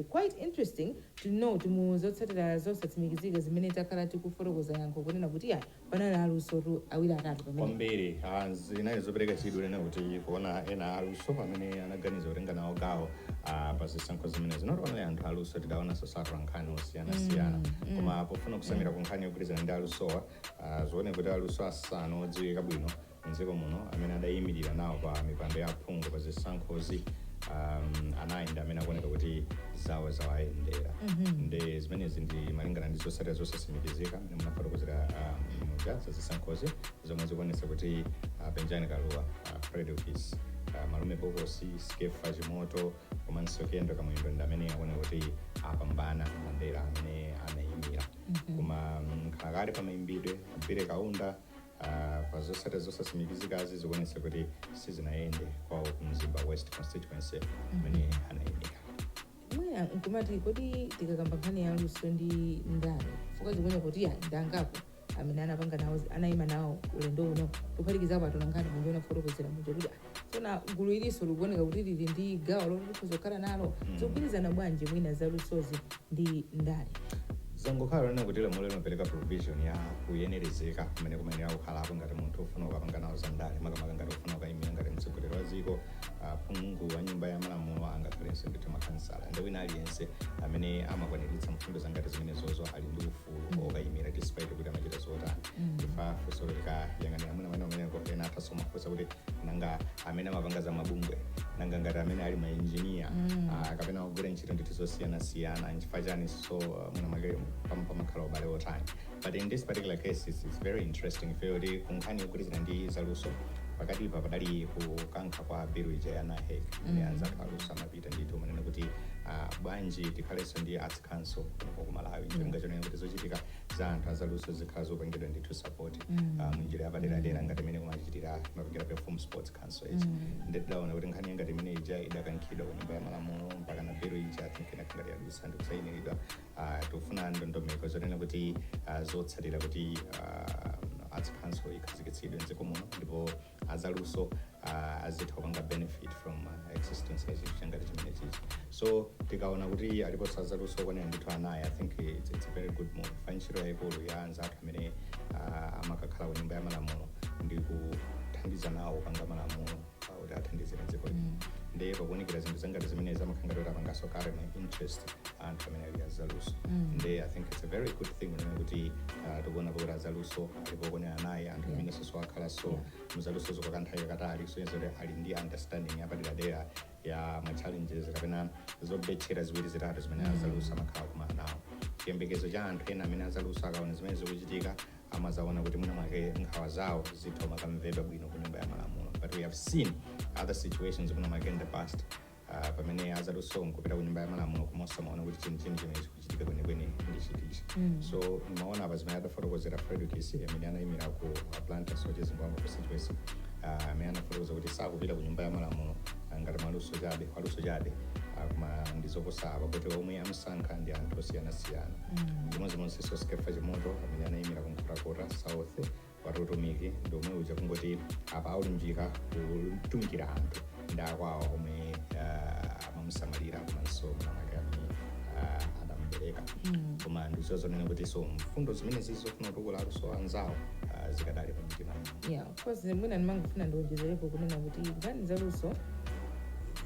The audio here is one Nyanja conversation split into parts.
Quite interesting to note mu zotsatira zosatsimikizika zimene takhala tikufotokoza yankho kunena kuti ayi panali alusotu awiri atatu pamenepa. kwambiri. A zinali zopereka chidwi kunena kuti kuona ena aluso amene anaganiza kutenga nawo gawo ah, pa zisankho zimenezi. Not only anthu aluso tidaonanso atolankhani osiyanasiyana koma pofuna kutsamira ku nkhani yogwirizana ndi alusowa ah, zikuoneka kuti aluso asanu odziwika bwino mdziko muno amene adayimirira nawo pa mipando ya aphungu pa zisankhozi um, anayi ndi amene akuoneka kuti zawo zawayendera ndi zimenezi ndi malingana ndi zotsatira zosatsimikizika amene munafotokozera um, muja za zisankhozi zomwe zikuonetsa kuti uh, penjani kalua uh, fredokiss uh, malume bokosi skefa chimoto komanso kendall kamwendo ndi amene akuoneka kuti apambana madera amene anayimira koma mm, nkhalakale pamayimbidwe a billy kaunda Uh, pa zotsatira zosatsimikizikazi zikuonetsa kuti sizinayende kwawo ku mzimba west constituency amene anayimira mwina nkumati kodi tikakamba nkhani ya luso ndi ndale chifukwa zikuoneka kuti ndi angapo amene anapanga nawo anayima nawo ulendo uno kuphatikizapo atolankhani munja munafotokozera muja kuti tsono gulu ilinso likuoneka kuti lili ndi gawo loti likhoza kukhala nalo zikugwirizana bwanji mwina za lusozi ndi ndale zangokhala zonena kuti lamulo limapereka provision ya kuyenerezeka kumene kumayenera kukhalapo ngati munthu ufuna ukapanga nawo za ndale makamaka ngati ufuna ukayimira ngati mtsogoleri wa dziko ah, phungu wa nyumba ya malamulo angakhalenso ndithu makhansala ndi wina aliyense amene amakwaniritsa mfundo zangati zimenezizo ali ndi ufulu fulu okayimira despite kuti amachita zotani chifukwa funso likayang'anira amene amene amene ena athanso kumafunsa kuti nanga amene amapanga za mabungwe nanga ngati amene ali mainjiniya ah, kapena akugwira ntchito ndithu zosiyanasiyana nchifukwa chani so ah, mwina mwake pam- pamakhala ubale otani but in this particular case it's, it's very interesting ifeyo kuti kunkhani yogwirizana ndi zaluso pakatipa padali kukankha kwa bilu ija ya nahec imene anzathu aluso amapusha ndithu kumanena kuti ah, bwanji tikhalenso ndi arts council kuno ku malawi cholinga chonena kuti zochitika za anthu azaluso zikhala zopangidwa ndithu support ah, munjira yapaderadera ngati mmene imachitira imapangira perform sports council ichi ndidaona kuti nkhani ngati imene ija idakankhidwa ku nyumba ya malamulo mpaka na bilu ija I think ngati yadusa ndikusainiridwa Ah, tikufuna ndondomeko zonena kuti ah, zotsatira kuti ah, arts council ikhazikitsidwe mdziko muno ndipo azaluso uh, azitha kupanga benefit from uh, existence ya chinthu changati chimene chichi so tikaona kuti aliponso azaluso okwanira ndithu anayi i think it's, it's a very good move fa ntchito yayikulu ya anzathu amene uh, amakakhala ku nyumba ya malamulo ndi kuthandiza nawo kupanga malamulo uh, kuti athandizire dziko lino ndi pakuonekera zinthu zangati zimene zimakhala ngati kuti apanganso kale ma interest anthu amene ali azaluso ndi i think it's a very good thing kunena kuti uh, tikuonapo kuti azaluso ndipo kuonera naye anthu amene akhalanso mu zalusozo kwa kanthawi kakatali kusonyeza kuti ali ndi understanding yapaderadera ya ma challenges kapena zobetchera ziwiri zitatu zimene azaluso amakhala kumana nawo chiyembekezo cha anthu ena amene azaluso akaona zimene zikuchitika amazaona kuti mwina mwake nkhawa zawo zitha makamvedwa bwino ku nyumba ya malamulo but we have seen other situations mwina mwake in the past Ah, pamene azaluso nkupita ku nyumba ya malamulo koma osamaona kuti chenicheni chimene chikuchitika kwenikweni ndi chitichi so maona apa zimene adafotokozera fredokiss amene anayimira ku blantyre soche zingwangwa constituency ah, amene anafotokoza kuti sakupita ku nyumba ya malamulo ah, ngati mwaluso chabe waluso chabe ah, koma ndi zoposa apa kuti omwe amsankha ndi anthu osiyanasiyana chimodzimodzinso skefa chimoto amene anayimira ku nkhotakota south wati utumiki ndi omwe uja kungoti apa akulunjika kutumikira anthu ndi akwawo omwe ah, amamusamalira komanso mwina mwake amene ah, adamubereka koma ndizo zonena kuti so mfundo zimenezi zofuna kutukula aluso anzawo ah, zikadali pa mtima yeah of course mwina ndimangofuna ndiwonjezerepo kunena kuti nkhani zaluso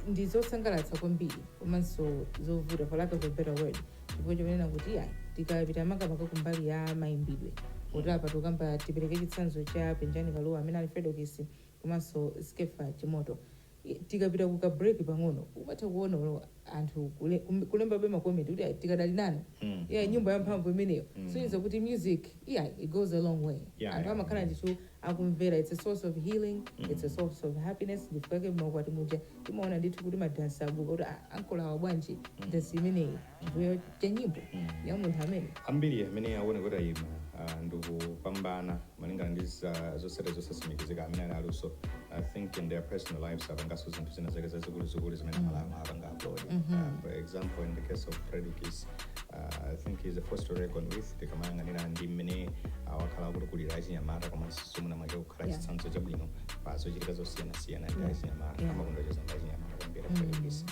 ndi zosangalatsa kwambiri komanso zovuta for lack of a better word chifukwa chonena kuti ya tikapita makamaka kumbali ya mayimbidwe kuti apa tikukamba tipereke chitsanzo cha penjani kalua amene ali fredokiss komanso skefa chimoto I- tikapita ku ka break pang'ono umatha kuona olo anthu kule- kum- kulembabe makomenti kuti "Ayi, tikadali nanu Mm. yeah, nyimbo yamphamvu imeneyo mm. kusonyeza kuti music yeah, it goes a long way Yeah, anthu yeah. amakhala ndithu akumvera its a source of healing its a source of happiness ndifukwake mmaukwati muja timaona ndithu kuti madansi abuka kuti "Ah, ankolo awa bwanji dansi imeneyi chifukwa cha nyimbo ya munthu amene ambiri amene akuona kuti ayima ah, ndikupambana malingana ndi za- zotsatira zosatsimikizika amene ali aluso i think in their personal lives apangaso zinthu zina zake zazikuluzikulu zimene amalawi apanga applaud Ah, for example in the case of fredokiss uh, i think he's a force to reckon with tikamayang'anira ndi mmene uh, wakhala akutukulira achinyamata komanso so mwina mwake kukhala Yeah. chitsanzo chabwino pa zochitika zosiyanasiyana ndi Yeah. achinyamata Yeah. amakonda kucheza ndi achinyamata kwambiri Mm. a fredokiss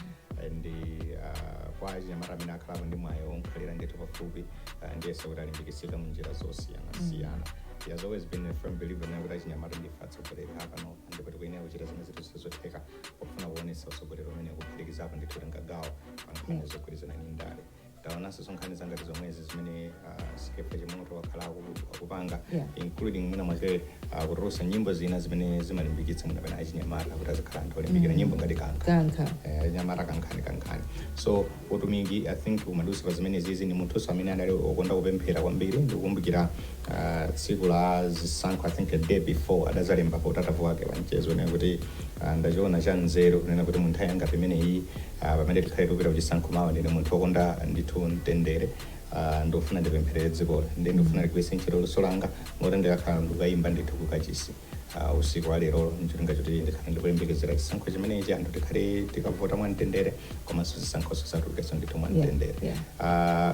and uh, kwa achinyamata amene akhalapo ndi mwayi omkhalira ndithu pafupi uh, ndiyesa kuti alimbikitsika mu njira zosiyanasiyana he has always been a firm believer nena kuti achinyamata ndife atsogoleri apano ndipo tikuyenera kuchita zimene ndithu zili zotheka pofuna kuonetsa utsogoleri umenewo kuphatikizapo ndithu kutenga gawo pa nkhani zogwirizana ndi ndale taonanso so nkhani zangati zomwezi zimene ah, skefa chimoto wakhala aku- akupanga Yeah. including mwina mwake ah, kutulutsa nyimbo zina zimene zimalimbikitsa mwina pena achinyamata kuti azikhala anthu olimbikira nyimbo ngati kankha kankha eh, nyamata kankhani kankhani so utumiki i think umadusa pa zimene zizi ndi munthunso amene adali okonda kupemphera kwambiri ndikukumbukira ah, tsiku la zisankho i think a day before adazalemba pa utatavu wake wa mchezo nena kuti Ah, ndachiona cha nzeru kunena kuti munthawi yangati imeneyi ah, pamene tikhale tikupita kuchisankho mawa ndine munthu wokonda ndithu mtendere ah, ndikufuna ndipempherere dzikoli ndi ndikufuna ndigwiritse ntchito luso langa moti ndikakhala ndikukaimba ndithu kukachisi ah, usiku wa lerolo ncholinga choti ndikhale ndikuyembekezera chisankho chimenechi anthu tikhale tikavota mwa mtendere komanso zisankhoso zidzatulukenso ndithu mwa Yeah, mtendere yeah. Ah,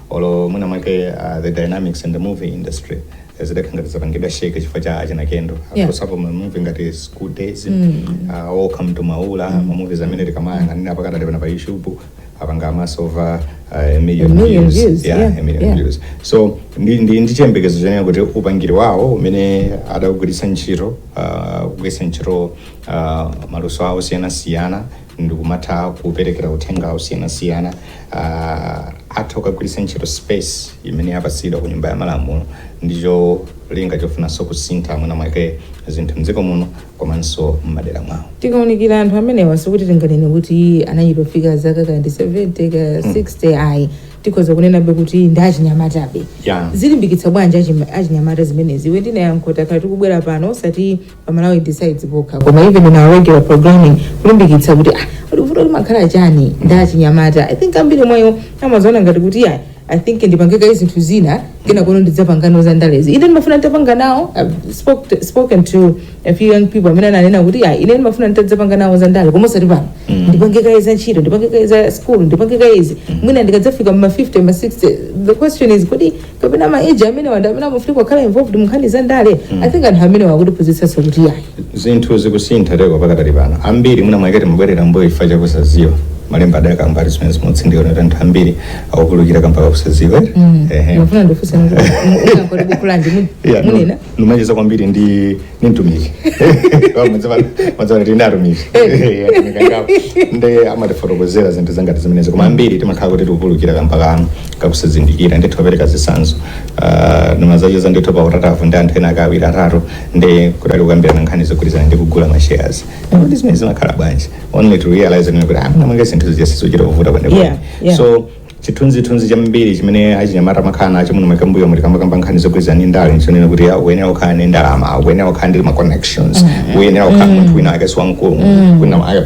Olo mwina mwake uh, the dynamics in the movie industry eh, zidakhala ngati zapangidwa shake chifukwa cha achina kendo Yeah. akozapo ma movie ngati school days uh, welcome to maula ma movies amene tikamayang'anira pakadali pano pa youtube apanga amass over uh, a million, A million views. views, Yeah, yeah, a million yeah. views so ndi, ndi, ndi chiyembekezo chonena kuti upangiri wawo umene adagwiritsa ntchito uh, kugwiritsa ntchito uh, maluso awo osiyanasiyana ndikumatha kuperekera uthenga osiyanasiyana uh, atha kukagwiritsa ntchito space imene yapatsidwa ku nyumba ya malamulo ndi cholinga chofunanso kusintha mwina mwake zinthu mdziko muno komanso m'madera mwawo tikaunikira anthu amenewa sikuti tinganene kuti anachitofika zaka kaya ndi 70 kaya 60 ayi tikhoza kunenabe kuti ndi achinyamatabe Yeah. zilimbikitsa bwanji achim- achinyamata zimenezi iwe ndinayankho takhala tikubwera pano osati pamalawi decides pokha koma even in our regular programming kulimbikitsa kuti ah kuti vuto limakhala chani ndi achinyamata i think ambiri mwayo amaziona ngati kuti ya i think ndipange kaye zinthu zina kenako ndidzapange nawo za ndalezi ine ndimafuna nditapanga nawo I've spoke to- spoken to a few young people amene ananena kuti ya ine ndimafuna nditadzapanga nawo za ndale koma osati pano ndipange kaye za ntchito ndipange kaye za school ndipange kaye izi mwina ndikadzafika mma 50 mma 60 the question is kuti kapena ma age amenewa ndi amene amafuna kukhala involved mu nkhani za ndale i think anthu amenewa akutiphunzitsanso kuti ayi zinthu zikusintha lero pakadali pana ambiri mwina mwake timabwerera mbuyo chifukwa chakusadziwa malemba adakamba ali zimene zimatsindika kuti anthu ambiri akupulukira kamba kakusadziwa Ehe. ndimafuna ndikufunsani kuti nangoti buku lanji mu- Yeah, no, munena ndimacheza kwambiri ndi ndi mtumiki mazana ndi atumiki nde amatifotokozera zinthu zangati zimenezo koma ambiri timakhala kuti tikupulukira kamba kakusazindikira ndithu ndipereka zitsanzo Ah, ndimadzacheza ndithu pa Utatu ndi anthu ena akawiri atatu ndi kudali kukambirana nkhani zogwirizana ndi kugula ma shares ndipo ndi zimene zimakhala bwanji only to realize kuti mwina mwake zinthu zija sizochita kuvuta Yeah, kwenekwene yeah. so Chithunzithunzi chambiri chimene achinyamata amakhala nacho muno makamaka mbuyomu tikamakamba nkhani zogwirizana ndi ndale nchonena kuti "Ah, ukuyenera kukhala ndi ndalama ukuyenera kukhala ndi ma connections ukuyenera kukhala munthu wina wake siwamkulu wina wake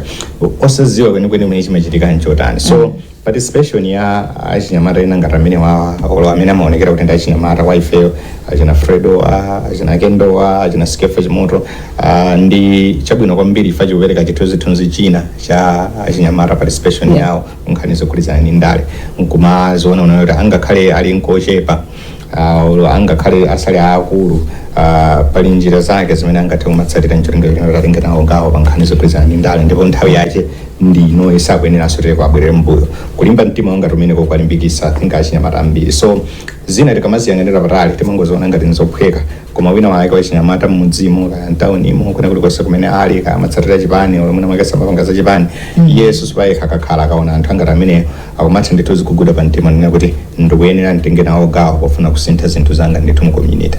osadziwa kwenikweni mene chimachitika nchotani so participation ya achinyamata ena ngati amene wawa olo amene amaonekera kuti ndi achinyamata wa ifeyo achina fredo wa achina kendo wa achina skeffa chimoto ah, ndi chabwino kwambiri ifa chikupereka chithunzithunzi china cha achinyamata participation yawo nkhani zokhudzana ndi ndale nkumaziona kuti angakhale ali ochepa uh, olo angakhale asali aakulu uh, pali njira zake zimene angathe kumatsatira ncholinga chotenga nawo gawo pa nkhani zokhudzana ndi ndale ndipo nthawi yache ndi ino sakuyeneranso atate kubwerera mbuyo kulimba mtima kwangati kumeneko kwalimbikisa I think achinyamata ambiri so zina tikamaziyang'anira patali timangoziona ngati nzophweka Koma wina wake wachinyamata m'mudzimo kaya mtaunimo kwina kulikonse kumene ali kaya amatsatira chipani olo mwina mwake samapanga za chipani as per se akakhala akaona anthu angati amenewo akumatha ndithu kuziguguda pa mtima nena kuti ndikuyenera nditenge nawo gawo pofuna kusintha zinthu zangati ndithu mu community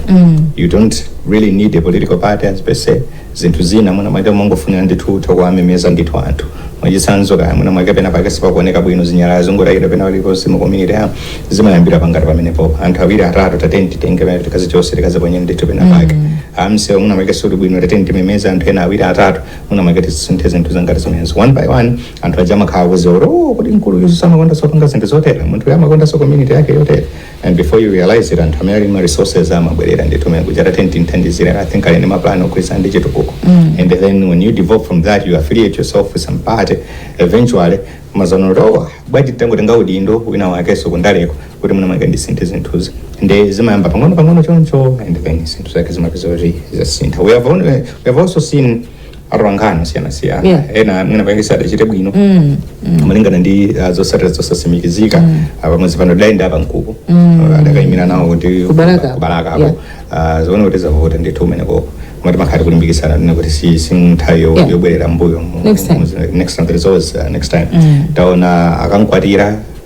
you don't really need a political party as per se zinthu zina, mwina mwake mungofunika ndithu utha kuwamemeza ndithu anthu. Mwachitsanzo, kaya mwina mwake pena pake sipakuoneka bwino, zinyalala zikungotayidwa pena paliponse mu community ya zimayambira pangati pamenepo. Anthu awiri atatu tateni titenge pena tikazichose tikaziponye ndithu pena pake. Ah msewu mwina mwake suli bwino tateni timemeze anthu ena awiri atatu mwina mwake tisinthe zinthu zangati zimenezo. One by one anthu aja amakhala akuziwa kuti oh, kodi mkulu uyuso amakondaso kupanga zinthu zotere munthu uyu amakondaso community yake yotere. and before you realize it anthu amene ali ndi ma resources amabwerera ndithu amene kuja tateni timthandizire i think ali ndi ma plan ogwirizana ndi chitukuko and then when you develop from that you affiliate yourself with some party eventually mumazaona oh bwanji nditangotenga udindo wina wakenso kundaleko kuti mwina mwake ndisinthe zinthuzi ndi zimayamba pang'ono pang'ono choncho and then zinthu zake zimapezeka kuti zasintha we have, only, we have also seen atolankhani osiyanasiyana Yeah. ena mwina pake sadachite bwino Mm. Mm. malingana ndi uh, zosatira zosasimikizika mm. pamwezi pano Ida ndi apa mkupo mm. adakayimira nawo ku Kubalaka. kubalakako yeah. uh, zaoneka kuti zavuta ndithu kumeneko koma timakhala tiku limbikisana nena kuti si si nthawi yo- Yeah. yobwerera mbuyo mu- Next time. mu- next time there is always uh, next time Mm. taona a Kankwatira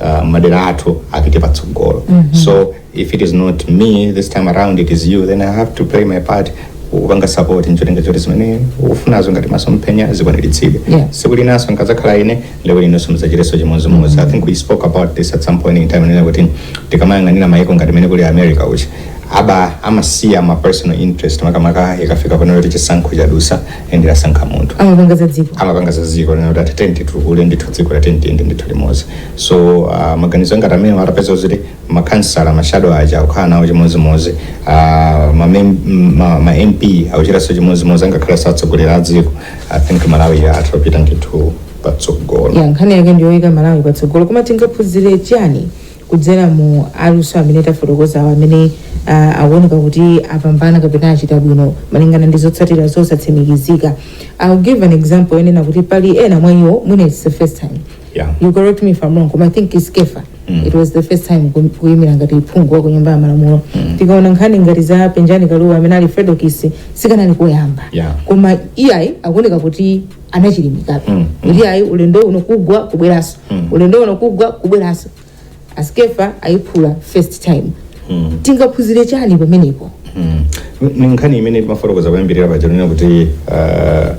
uh, madera athu apite patsogolo mm -hmm. so if it is not me this time around it is you then i have to play my part kupanga support ncholinga choti zimene ukufunazo ngati maso mphenya zikwaniritsidwe Yeah. siku linaso ndikazakhala ine lero inunso mudzachiteso chimodzimodzi i think we spoke about this at some point in time nena kuti tikamayang'anira mayiko ngati mene kuli america kuja apa amasiya ma personal interest makamaka ikafika ponena kuti chisankho chadusa ende lasankha munthu amapanga za dziko amapanga za dziko nena kuti ah tiyeni titukule ndithu dziko lathu tiyende ndithu limodzi so uh, maganizo angati amenewa atapezeka kuti makansala mashado aja akukhala nawo chimodzimodzi uh, ma, mem- m- ma, ma mp akuchitanso chimodzimodzi angakhaleso atsogoleri a dziko i think malawi itha kupita ndithu patsogolo ya nkhani yake ndiyoyika malawi patsogolo koma tingaphunzire chani kudzera mwa anthu amene tafotokozawo amene uh, akuoneka kuti apambana kapena achita bwino malingana ndi zotsatira zosatsimikizika i'll give an example yonena kuti pali ena mwa iwo mwina it's the first time Yeah. you correct me if i'm wrong koma i think it's kefa mm. it was the first time ku- kuyimira ngati phungu wa ku nyumba ya malamulo mm. tikaona nkhani ngati za Penjani Kalua amene ali Fredokiss sikanali koyamba Yeah. koma iyayi akuoneka kuti anachilimikabe mm, mm. kuti ayi ulendo uno kugwa kubweranso mm. ulendo uno kugwa kubweranso a Skeffa ayiphula first time mm. tingaphunzire chani pamenepo mm. ndi nkhani imene timafotokoza kuyambirira paja lonena kuti uh,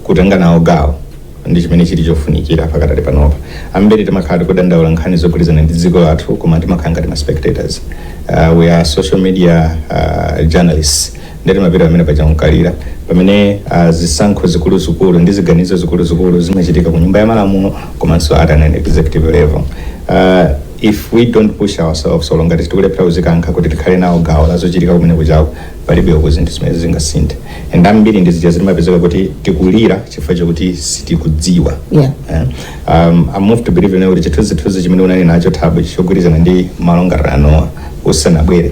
kutenga nawo gawo ndi chimene chili chofunikira pakatali panopa ambiri timakhala tikudandaula nkhani zogwirizana ndi dziko lathu koma timakhala ngati ma spectators uh, we are social media uh, journalists ndiye kuti timathera pamene paja n'kulira pamene ah, zisankho zikuluzikulu ndi ziganizo zikuluzikulu zimachitika ku nyumba ya malamulo komanso at an executive level Ah, if we don't push ourselves olo ngati tikulephera kuzikankha kuti tikhale nawo gawo la zochitika kumene kuchako palibe uku zinthu zimene zingasinthe and ambiri ndi zija zimapezeka kuti tikulira chifukwa chakuti sitikudziwa Yeah. Eh, um, I move to believe now kuti chithunzithunzi chimene unali nacho thabo chogwirizana ndi ma long'arano usanabwere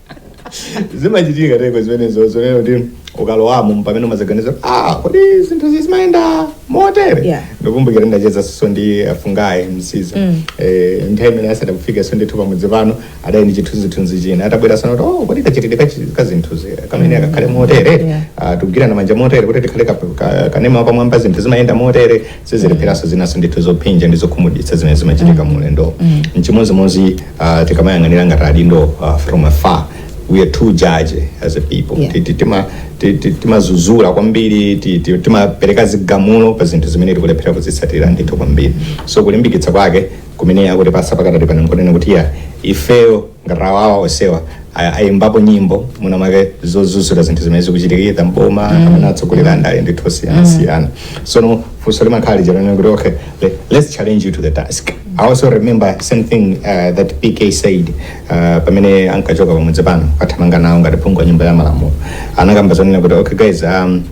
zimachitika ndithu zimenezo zonena kuti ukalowamo mpamene umazaganiza ah kodi zinthu izi zimayenda motere Yeah. ndikumbukira ndachezanso ndi a Fungai Msiza eh, nthawi imene asadafikenso ndithu pamudzi pano adali ndi chithunzithunzi china atabwera anazaona kuti oh kodi kachitidwe kachi- kazinthuzi kamene akakhale motere Yeah. Ah, tikugwirana manja motere kuti tikhale ka- ka- kanema pamwamba zinthu zimayenda motere sizilepheranso zinanso ndithu zophinja ndi zokhumudwitsa zimene zimachitika mu ulendowo mchimodzimodzi uh, tikamayang'anira ngati adindo uh, from afar we are too judgy as a people Yeah. Ti- ti- tima- ti- ti- timadzudzula kwambiri ti- ti- timapereka zigamulo pa zinthu zimene tikulephera kuzitsatira ndithu kwambiri so kulimbikitsa kwake kumene akutipatsa pakadali pano nkonena kuti ya ifeyo ngati awawa onsewa a- ayimbapo nyimbo mwina mwake zodzudzula zinthu zimene zikuchitikira mboma kapena atsogoleri andale ndithu osiyanasiyana sono funso limakhala lija lonena kuti okay le- let's challenge you to the task i also remember something uh, that pk said uh, pamene ankachoka pamudzi pano akathamanga nawo ngati phungu wa nyumba ya malamulo anakamba zonena kuti okay guys um,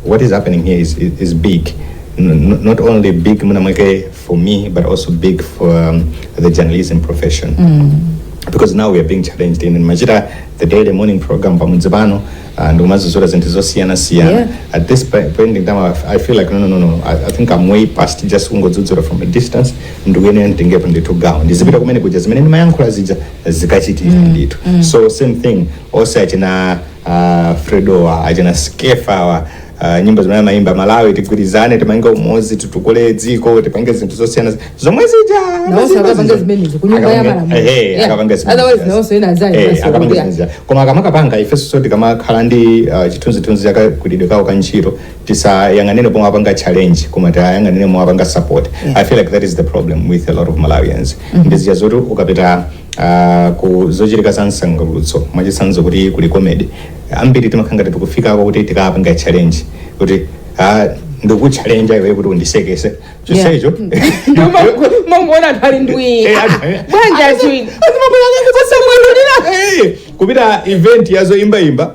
what is happening here is, is, is big. N- not only big Munamweke for me, but also big for um, the journalism profession. Mm. Because now we are being challenged in Majira, the daily morning program, Pamunzibano, and Umazuzura Zentizosiana Siana. Yeah. At this point in time, I, I feel like, no, no, no, no. I, I think I'm way past just Ungo Zuzura from a distance. Ndugene ndingepo ndithu gawo ndizipita kumene kuja zimene ndimayankhula zija zikachitira ndithu so same thing ose achina achina Fredowa achina Skeffawa uh, nyimbo zimene amayimba malawi tigwirizane timange umodzi titukule dziko tipange zinthu zosiyana zomwe zija Nawonso akapanga zimenezo ku nyumba ya malamulo. Yeah. akapanga Otherwise nawonso ena azayi Eh, basi akapanga kuya. zimenezo. koma akamakapanga ifenso tikamakhala ndi uh, chithunzithunzi chakagwiridwe kawo ka ntchito tisayang'anire pomwe apanga challenge koma tiyang'anire pomwe apanga support i feel like that is the problem with a lot of malawians ndi zija zoti ukapita uh, ku zochitika za msangulutso mwachitsanzo kuti kuli comedy ambiri timakhala ngati tikufikako kuti tikapange challenge kuti ah, ndikuchallenge iwe kuti undiseketse chonsecho mongona anthu ali ndwii Eh, anthu- eh. bwanja chiwiri osamwalulira Eh, kupita event yazoimbaimba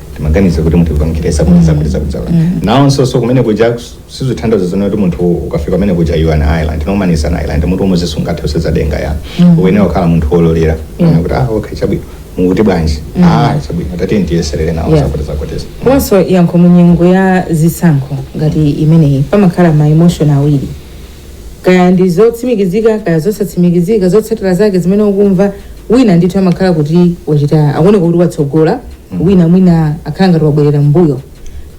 timaganiza kuti munthu ukamchita zabwino azakuuza nawonso so kumene kuja sizithandiza zonena kuti munthu ukafika kumene kuja you are an island no man is an island mutu umodzi sungathe kusenza denga ya uyenera kukhala munthu wololera kuona kuti ah okay chabwino mukuti bwanji ah chabwino tati ndiyeserere nawo Yeah. zakuti zakutisa komanso yankho mu nyengo ya zisankho ngati imeneyi pamakhala ma emotion awiri kaya ndi zotsimikizika kaya zosatsimikizika zotsatira zake zimene ukumva wina ndithu amakhala kuti wachita akuoneka kuti watsogola wina mwina akhala ngati wabwerera mbuyo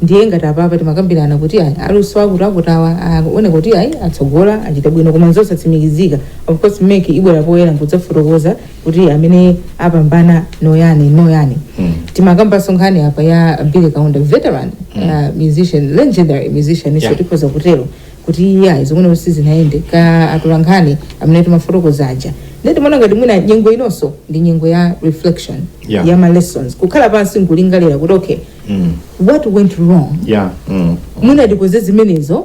ndiye ngati apapa timakambirana kuti ayi aluso akuti akuthawa akuoneka kuti ayi atsogola achita bwino koma zosatsimikizika of course mek ibwera poyera nkudzafotokoza kuti amene apambana ndi ayani ndi ayani Mm. timakambanso nkhani apa ya billy kaunda veteran uh, musician legendary musician inso Yeah. tikhoza kutero kuti iyayi zomwe sizinawayendere ka atolankhani amene tumafotokoza aja ndiye timaona ngati mwina nyengo inonso ndi nyengo ya reflection Yeah. ya ma lessons kukhala pansi nkulingalira kuti okay Mm. what went wrong Yeah. Mm. mwina ndikoze zimenezo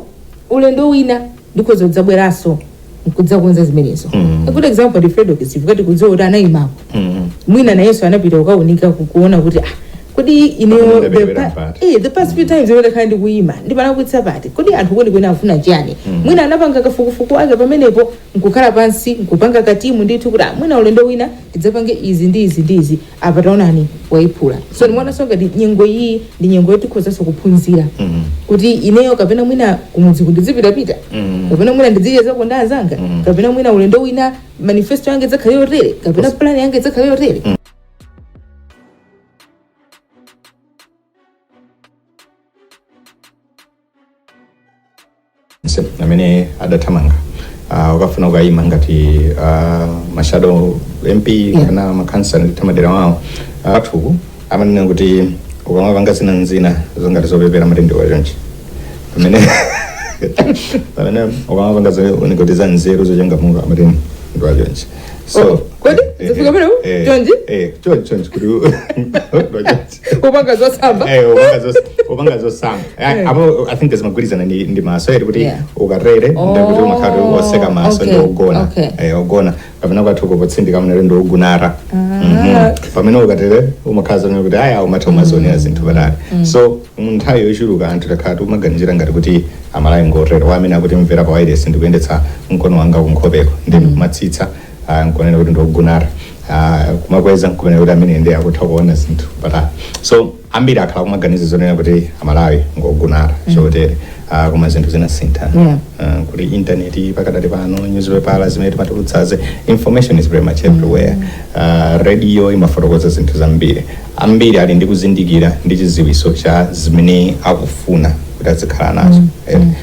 ulendo wina ndikhoza kudzabweranso nkudzakonza zimenezo a good example ndi fredokiss tikudziwa kuti anayimako mwina nayenso anapita kukaunika ku- kuona kuti ah kodi ineyo Kapena the ndabwerera pa- mpati. eh, the past few times imene takhala ndikuyima ndimalakwitsa pati kodi anthu kwenikweni afuna chiyani mwina anapanga kafukufuku ake pamenepo nkukhala pansi nkupanga katimu ndithu kuti ah, mwina ulendo wina tidzapange izi ndi izi ndi izi apa taonani waiphula so ndimaonanso ngati nyengo iyi ndi nyengo yoti tikhozanso kuphunzira kuti ineyo kapena mwina kumudziku ndidzipitapita kapena mwina ndidzichezako nda anzanga kapena mwina ulendo wina manifesto yanga idzakhale yotere kapena plan yanga idzakhale yotere onse amene achinyamata uh, akafuna kuyima ngati uh, mashado mp kaya makhansala m'madera mwawo anthu amanena kuti ukamapanga zina nzina zongati zopepera amati ndiwa chonchi pamene pamene ukamapanga zonena kuti za nzeru zochangamuka amati ndiwa chonchi so Oh, kodi? eh, eh, Zifika pano? eh, Chonchi? eh, chonchi chonchi kuti ndiwa chonchi kupanga zosamba Eh, upanga zos- upanga zosamba Eh, apo i think zimagwirizana ndi ndi maso eti kuti Yeah. ukatere Oh, ndikuti umakhala kuti otseka maso okay, ndi ogona okay. Eh, ogona pamene kwathu kupotsindika mnere ndi ogunara Mhm. pamene ukatere umakhala zonena kuti aya umatha umazionera zinthu patali so munthawi yochuluka anthu takhala timaganizira ngati kuti amalawi ngotero amene akutimvera pa wailesi ndikuyendetsa mkono wanga kunkhopeko ndi ndikumatsitsa ah, nkumanena kuti ndi ogonatu ah, kumakweza nkumanena kuti amenewa ndi akutha kuona zinthu patali so ambiri akhala kumaganiza zonena kuti amalawi ngogona chotere ah, koma zinthu zinasintha Yeah. Ah, kuti intaneti pakadali pano newspaper zimene timatulutsaze information is very much everywhere Ah, radio imafotokoza zinthu zambiri ambiri ali ndi kuzindikira ndi chiziwiso cha zimene akufuna kuti azikhala nazo Eh,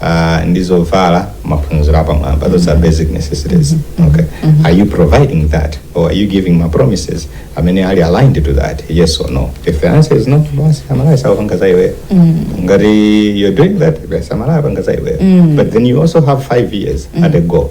uh, ndi zovala maphunziro apamwamba those are basic necessities okay are you providing that or are you giving my promises amene ali aligned to that yes or no if the answer is no basi amalawi sakupanga za iweyo ngati you're doing that basi amalawi apanga za iweyo but then you also have five years at a go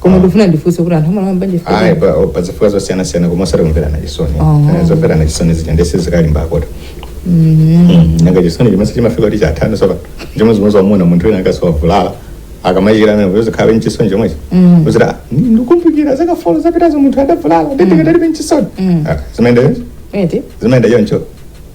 koma ndifuna ndifunse kuti anthu amalowa mbanja chifukwa cha chani? pa- o- pazifukwa zosiyana siyana koma osati kumverana chisoni Oh. Eh, zomverana chisoni zija ndiye zikalimbakoto nanga chisoni chimenecho chimafika kuti chatani soka chimodzimodzi wamwamuna munthu wina akadzavulala akamachira amene kuti uzikhalabe nchisoni chomwechi Mm. kuti ah, ndi- ndikumbukira zaka folo zapitazo munthu adavulala nde ndikadalibe nchisoni Mm. Ah, zimayenda choncho eti zimayenda choncho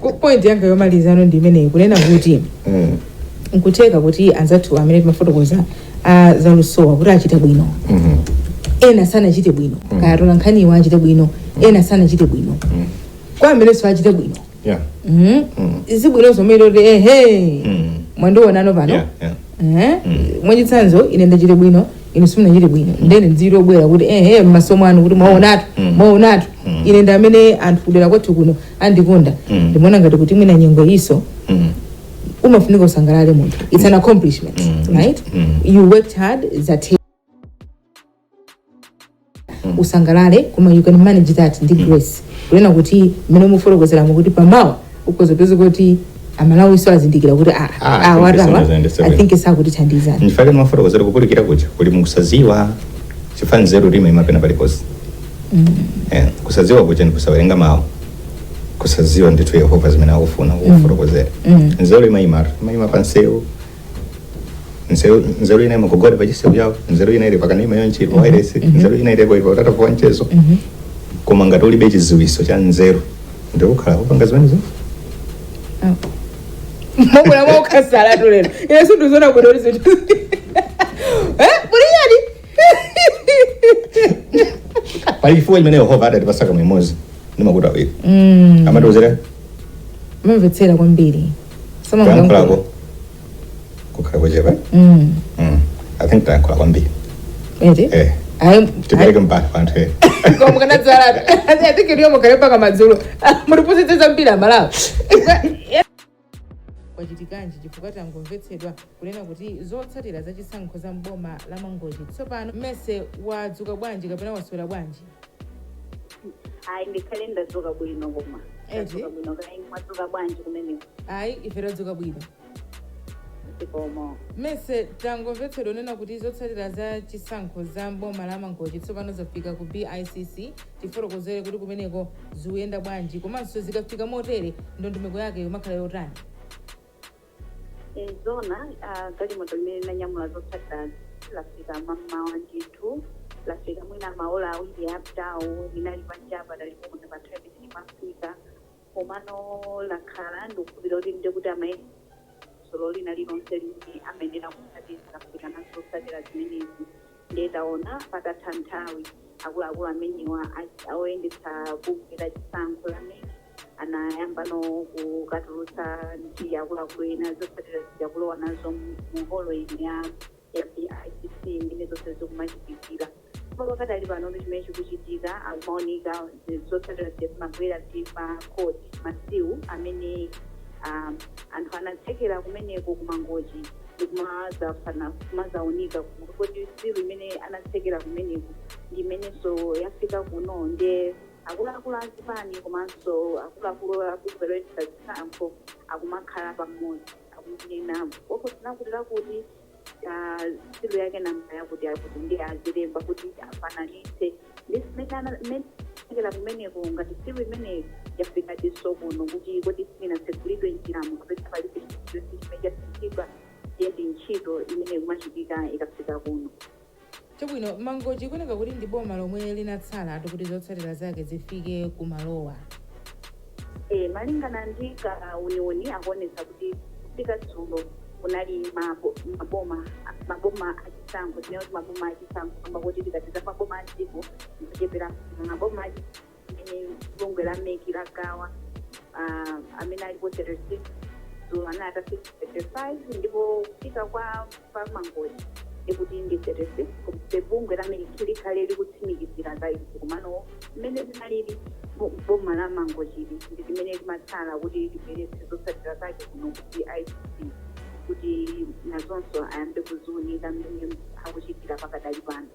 Ku- point yanga yomalizano ndi imeneyi kunena kuti Mm. nkutheka kuti anzathu amene timafotokoza a zalusowa kuti achite bwino Mhm. ena sanachite bwino kaya tola nkhaniwa achite bwino ena sanachite bwino kwa amenenso achite bwino Yeah. Mhm. sibwino kumati ehe Mm. mwandionano pano Yeah, yeah. Eh? mwachitsanzo ine ndachite bwino ine simunachite bwino nde ine ndizingobwera kuti ehe mmaso mwanu kuti mwaonatu mwaonatu ine ndi amene anthu kudera kwathu kuno andikonda Mm. ndimaona ngati kuti mwina nyengo iyo Mm. umafunika usangalale munthu it's an accomplishment Mm. right Mm. you worked hard zathe usangalale koma you can manage that ndi grace kunena kuti mmene mufotokozeramo kuti pamawa ukhoza kupeza kuti amalawi so azindikira kuti ah, Ah, ah, thank you atawa so much, Andy, so i much. think sakutithandizani ndichifukwa chake ndimafotokozera kupulikira kuja kuli mukusaziwa chifukwa nzeru ija imapezeka paliponse Eh, kusaziwa kuja ndi kusawerenga mawu kusaziwa ndithu yehova zimene akufuna kufotokozera nzeru imayimatu imayima pansewu nzeru nzeru ina ikugugula pa chisewu apo nzeru ina ili pakanema uyu ili pa wairesi nzeru ina ili ku utatu kwa mchezo koma ngati ulibe chiziwiso cha nzeru ndikukhala kupanga zimenezo mobwera mwaukhasalatu lero ine sindizona kuti zinthu pachifukwa chimene yehova adatipatsa kamwa imodzi ndi makutu awiri Mm. amatiuzira Muzimvetsera kwambiri. Sama kuyankhulako kukhale kochepa Mm. Mm. i think tayankhula kwambiri Eti? eh Ayi. tipereke mpata kwa anthu eh Kwa mkanadzala. Ati ati kiriyo mukhale mpaka madzulo. Mutipusitse zambiri amalawi. Kwachitikanji? Chifukwa tangomvetsedwa kunena kuti zotsatira za chisankho za m'boma la Mangochi. Tsopano Mercy wadzuka bwanji kapena waswera bwanji? Ayi ndikhale ndadzuka bwino koma. Eti? Ndadzuka bwino kaya inu mwadzuka bwanji kumeneko? Ayi ife tadzuka bwino. Zikomo. Mercy tangomvetsedwa kunena kuti zotsatira za chisankho za m'boma la Mangochi tsopano zafika ku BICC. Tifotokozere kuti kumeneko zikuyenda bwanji komanso zikafika motere ndondomeko yake ikumakhala yotani? E, Zoona, uh, galimoto limene linanyamula zotsatirazi lafika mammawa ndithu. Lafika mwina maola awiri apitawo. Linali panjapa talipomwe pa 10 minutes mwafika. Komano lakhala, ndikukhulupirira kuti ndiye kuti amayesetsa dongosolo lina lilonse limene amayenera kutsatira akafika nazo zotsatira zimenezi. Ndiye taona patatha nthawi akuluakulu amenewa a oyendetsa bungwe la chisankho la mec anayamba no kukatulutsa ndi akuluakulu ena zotsatira zija kulowa nazo mu holo ino ya BICC ndiye zonse zikumachitikira koma pakadali panotu chimene chikuchitika akumaunika zinthu zotsatira zija zimabwera ndi ma code ma seal amene um, anthu anatsekera kumeneko ku Mangochi ndikumazafana kumazaunika kuti seal imene anatsekera kumeneko ndi imenenso yafika kuno nde akuluakulu azipani komanso akuluakulu a bungwe loyendetsa zisankho akumakhala pamodzi akunena kopo tinakuti lakuti ah, seal yake namba yakuti akuti ndiye azilemba kuti afananitse ndi zimene ana- imene anatsekera kumeneko ngati seal imeneyi yafika nditso kuno kuti kodi sinatsegulidwe njiramo kapena palibe chimene chatsegulidwa ndiye ndi ntchito imene ikumachitika ikafika kuno Chabwino, Mangochi ikuoneka kuti ndi boma lomwe linatsalatu kuti zotsatira zake zifike ku malowa. Eeh, malingana ndi kauniuni akuonetsa kuti kufika dzulo kunali maboma, maboma achisankho, tinene kuti maboma achisankho kamba koti tikati za maboma a m'dziko ndi ocheperapo koma maboma a. amene bungwe la mec lagawa ah, amene alipo 36 dzulo anali atafika 35 ndipo kufika kwa kwa mangochi ndiye kuti ndi 36 komabe bungwe la mec likhale likutsimikizira za izi komano mmene zinalili bo- boma la mangochili ndi limene limatsala kuti libweretse zotsatira zake kuno ku BICC kuti nazonso ayambe kuziunika mmene akuchitira pakadali pano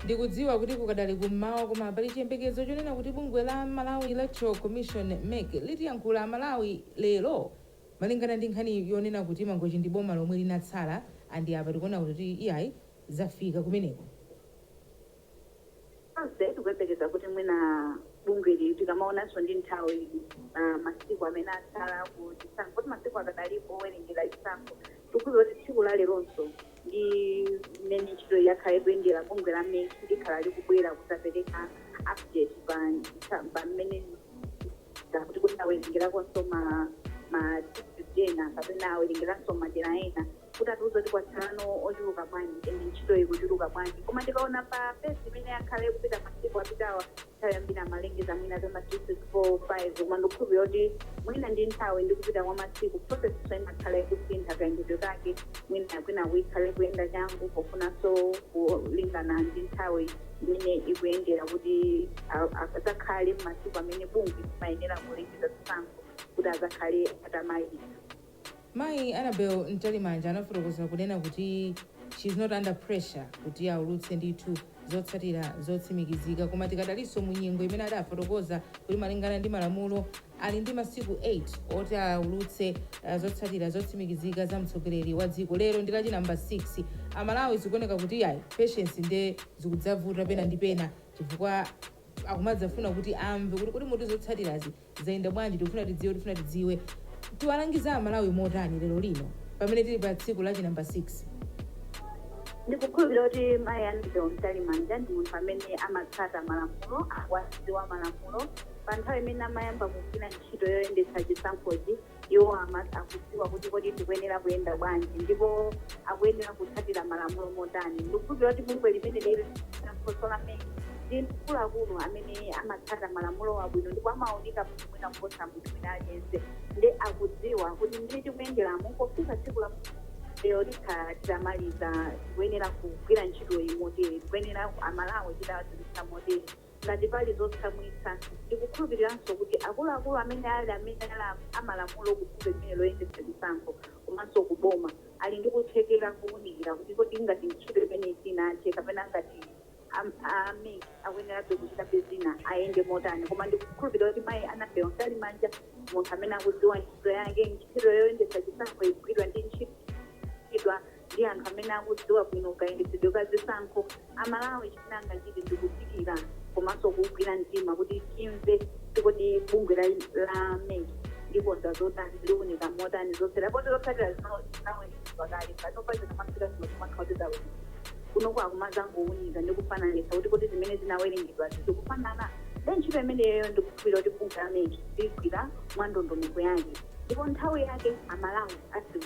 Ndikudziwa kuti kukadali ku mmawa koma pali chiyembekezo chonena kuti bungwe la Malawi Electoral Commission, mec, litiyankhula Amalawi lero malingana ndi nkhani yonena kuti Mangochi ndi boma lomwe linatsala and apa tikuona kuti iyayi zafika kumeneko. Tonse tikuyembekeza kuti mwina bungweli tikamaonanso ndi nthawi masiku amene atsala ku chisankho poti masiku akadalipo owerengera chisankho. Tikudziwa kuti tsiku la leronso ndi mmene ntchitoyi yakhala ikuyendera, bungwe la mec likhala likubwera kudzapereka update pa pa mmene kuti kodi awelengerakonso ma ma district ena kapena awerengeranso madera ena kuti atiuze kuti kwatsalano ochuluka bwanji and ntchito ikuchuluka bwanji. Koma ndikaona pa pace imene yakhala ikupita masiku apitawa, nthawi yambiri amalengeza mwina za ma 4 5 koma ndikukhulupirira kuti mwina ndi nthawi ndi kupita kwa masiku process imakhala ikusintha kayendedwe kake mwina kwinaku ikhale kuyenda changu pofunanso kulingana ndi nthawi imene ikuyendera kuti a- azakhale mmasiku amene bungwe limayenera kulengeza zisankho kuti azakhale atamaliza Mayi Annabel Mtalimanja anafotokoza kunena kuti she is not under pressure kuti aulutse ndithu zotsatira zotsimikizika koma tikadalinso mu nyengo imene adafotokoza kuti malingana ndi malamulo ali ndi masiku 8 oti aulutse uh, zotsatira zotsimikizika za mtsogoleri wa dziko lero ndi lachi namba 6 amalawi zikuoneka kuti yayi patience nde zikudzavuta pena ndi pena chifukwa akumadzafuna kuti amve kuti kuti muti zotsatirazi Zayenda bwanji? Tikufuna tidziwe, tikufuna tidziwe. Tiwalangize a Malawi motani lero lino pamene tili pa tsiku la chi number 6? Ndikukhulupilira kuti mayi Annabel Mtalimanja ndi munthu amene amatsata malamulo, akuwadziwa malamulo. Pa nthawi imene amayamba kugwira ntchito yoyendetsa chisankhochi, Iwo akudziwa kuti kodi tikuyenera kuyenda bwanji ndipo akuyenera kutsatira malamulo motani. Ndikukhulupirira kuti bungwe limeneli la chisankho la mec ndi akuluakulu amene amatsata malamulowa bwino ndipo amawaunika bwino mwina kuposa munthu wina aliyense nde akudziwa kuti mmene tikuyenderamu pofika tsiku la lero tikhala titamaliza tikuyenera kugwira ntchitoyi motere tikuyenera amalawi titawadziwitsa motere ngati pali zotsamwitsa. Ndikukhulupiliranso kuti akuluakulu amene ali amene ali amalamulo ku bungwe limeneli loyendetsa chisankho komanso ku boma ali ndi kuthekera kowunikira kuti kodi ngati ntchito imeneyi sinathe kapena ngati a mec akuyenerabe kuchitabe zina ayende motani. Koma ndikukhulupilira kuti mayi Annabel Mtalimanja ndi munthu amene akudziwa ntchito yake. Ntchito yoyendetsa chisankho igwidwa ndi ntchito. ndi anthu amene akudziwa bwino kayendetsedwe ka zisankho, a Malawi chimene angachite ndi kudikira komanso kuugwira mtima kuti timve kuti kodi bungwe la la mec likonza zotani, liunika motani zotsatira poti zotsatira zinawerengedwa kale panopa zikamafika kuno kumakhala kuti zawerengedwa. Kunoko akumadzangounika ndi kufananitsa kuti kodi zimene zinawerengedwazi zikufanana? Ndiye ntchito imeneyoyo ndikukhulupirira kuti bungwe la mec ligwira mwa ndondomeko yake ndipo nthawi yake a Malawi adziwa.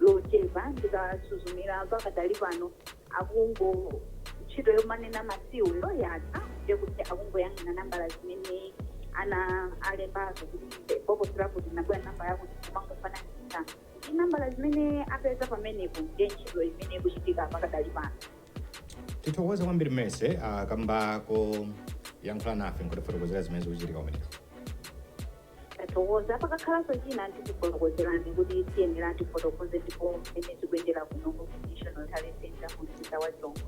lochepa ndikasuzumira pakadali pano akungo ntchito yomanena ma seal yo yatha ndiye kuti akungoyang'ana nambala zimene ana alembazo kuti bokosi lakuti linabwera nambala yakuti kumangofananitsa ndi nambala zimene apeza pamenepo ndiye ntchito imene ikuchitika pakadali pano tithokoze kwambiri Mmese kamba koyankhula nafe nkutifotokozera zimene zikuchitika kumeneko Tathokoza. Pakakhalanso china tikufotokozerani kuti tiyenera tifotokoze ndipo mmene zikuyendera kuno ku National Tally Centre mu mzinda wa Lilongwe.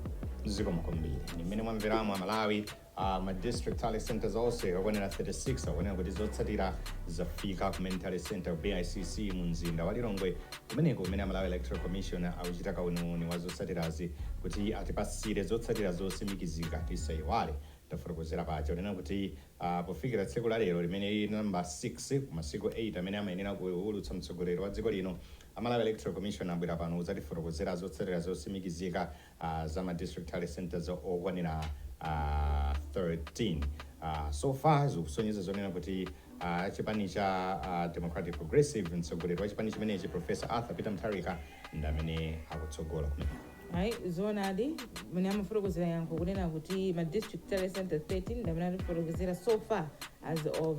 zikomo kwambiri ndi mmene mwamveramo amalawi a ma district tally centers onse okwanira 36 akuoneka kuti zotsatira zafika ku main tally center bicc mu mzinda wa lilongwe kumeneko kumene amalawi electoral commission akuchita kauniuni wa zotsatirazi kuti atipasire zotsatira zotsimikizika tisaiwale tafotokozera paja zonena kuti a Pofikira tsiku la lero limene lili number 6 ku masiku 8 amene amayenera kuulutsa mtsogoleri wa dziko lino, a Malawi Electoral Commission abwera pano kudzatifotokozera zotsatira zotsimikizika a za ma District Tally Centres okwanira a 13. a So far zikusonyeza zonena kuti a chipani cha a Democratic Progressive, mtsogoleri wa chipani chimenechi Prof. Arthur Peter Mutharika ndi amene akutsogola kumeneko. Ayi, zoonadi mene amafotokozera yankho kunena kuti ma district tally center 13 ndi amene atifotokozera so far as of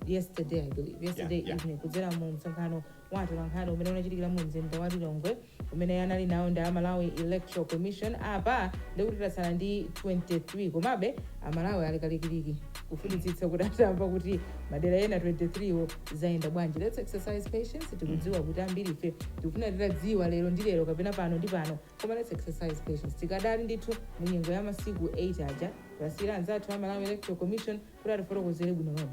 yesterday i believe yesterday Yeah, yeah. evening kudzera mu msonkhano wa atolankhani umene unachitikira mu mzinda wa lilongwe umene anali nawo ndi a malawi electoral commission apa ndikuti tatsala ndi 23 komabe amalawi ali kalikiliki kufunitsitsa kuti atamva kuti madera ena 23 wo zayenda bwanji let's exercise patience tikudziwa kuti ambiri ife tikufuna titadziwa lero ndi lero kapena pano ndi pano koma let's exercise patience tikadali ndithu mu nyengo ya masiku 8 aja tiwasiyire anzathu a malawi electoral commission kuti atifotokozere bwino lomwe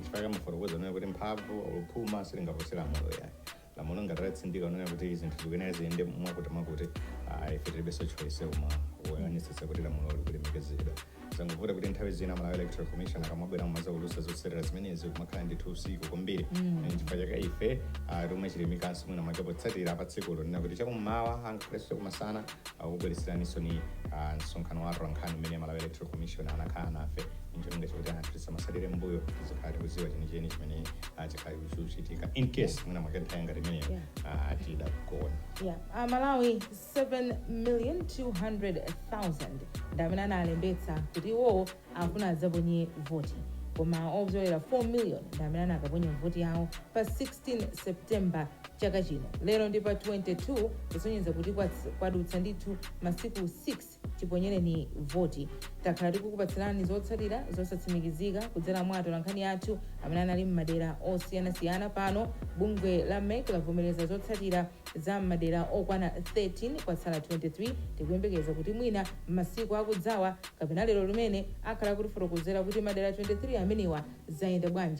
chifukwa ndimafotokoza kunena kuti mphamvu or phuma silingapose lamulo yayi lamulo ngati latsindika kunena kuti zinthu zikuyenera ziyende mwakutimwakuti ah, ife tilibenso choice koma kuonetsetsa kuti lamulo likulemekezedwa zangovuta kuti nthawi zina malawi electoral commission akamabwera kumadzaulutsa zotsatira zimenezi kumakhala ndithu usiku kwambiri Eh, chifukwa chake ife ah, timachilimikanso mwina mwake potsatira pa tsikulo nena kuti chakummawa angakhalenso chakumasana takubweretseraninso ni ah, msonkhano wa atolankhani umene malawi electoral commission anakhala nafe ncholinga chakuti anthu tisamatsalire m'mbuyo tizikhala tikudziwa chenicheni chimene ah, chikuchitika in case mwina mwake nthawi ngati imeneyo Yeah. ah, tidakagona Yeah, a Malawi 7 million 200,000 ndi amene analembetsa kuti iwowo akufuna adzaponye voti koma opyolera 4 million ndi amene anakaponya voti yawo pa 16 september chaka chino lero ndi pa 22 kusonyeza kuti kwats- kwadutsa ndithu masiku 6 chiponyereni voti. Takhala tikukupatsirani zotsatira zosatsimikizika kudzera mwa atolankhani athu amene anali m'madera osiyanasiyana. Pano bungwe la mec lavomereza zotsatira za m'madera okwana 13. Kwatsala 23. Tikuyembekeza kuti mwina m'masiku akudzawa kapena lero limene akhala akutifotokozera kuti madera 23 amenewa zayenda bwanji.